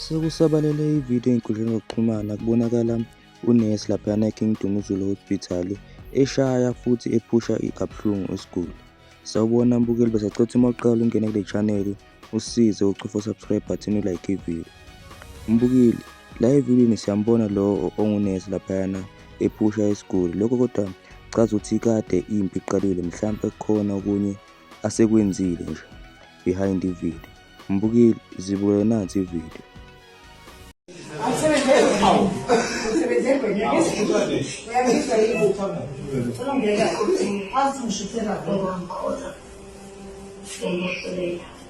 Sekusabalele ividiyo enkundleni yokuxhumana kubonakala unesi laphayana eKing Dumuzulu Hospital eshaya futhi ephusha kabuhlungu isiguli. Sawubona mbukeli besacotha uma uqala ungene kule chaneli usize ucofa subscribe button ulike ividiyo. Mbukeli La evidini siyambona lowo ongunesi laphayana ephusha isiguli lokho kodwa chaza ukuthi kade impi iqalile mhlawumbe kukhona okunye asekwenzile nje behind ivideo mbukile zibukele nansi ivideo Thank you.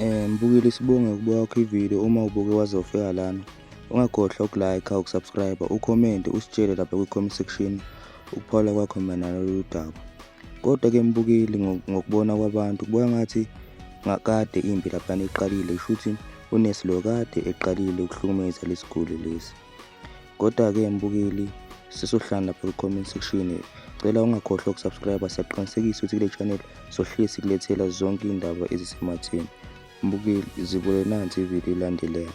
Eh mbukile sibonge ukubuka kwakho ivideo uma ubuke wazofika lana ungakhohlwa ukulike ukusubscribe ucomment usitshele lapha kwi-comment section ukuphawula kwakho mayelana nalolu daba kodwa ke mbukeli ngokubona kwabantu kubuka ngathi ngakade impi laphana iqalile shuthi unesilo kade eqalile ukuhlukumeza lesiguli lesi kodwa ke mbukeli sesohlala lapha ku-comment section cela ungakhohlwa ukusubscribe siyaqinisekisa ukuthi kule channel sohleli sikulethela zonke iy'ndaba ezisematheni mbukeli zibule nansi ividiyo ilandelayo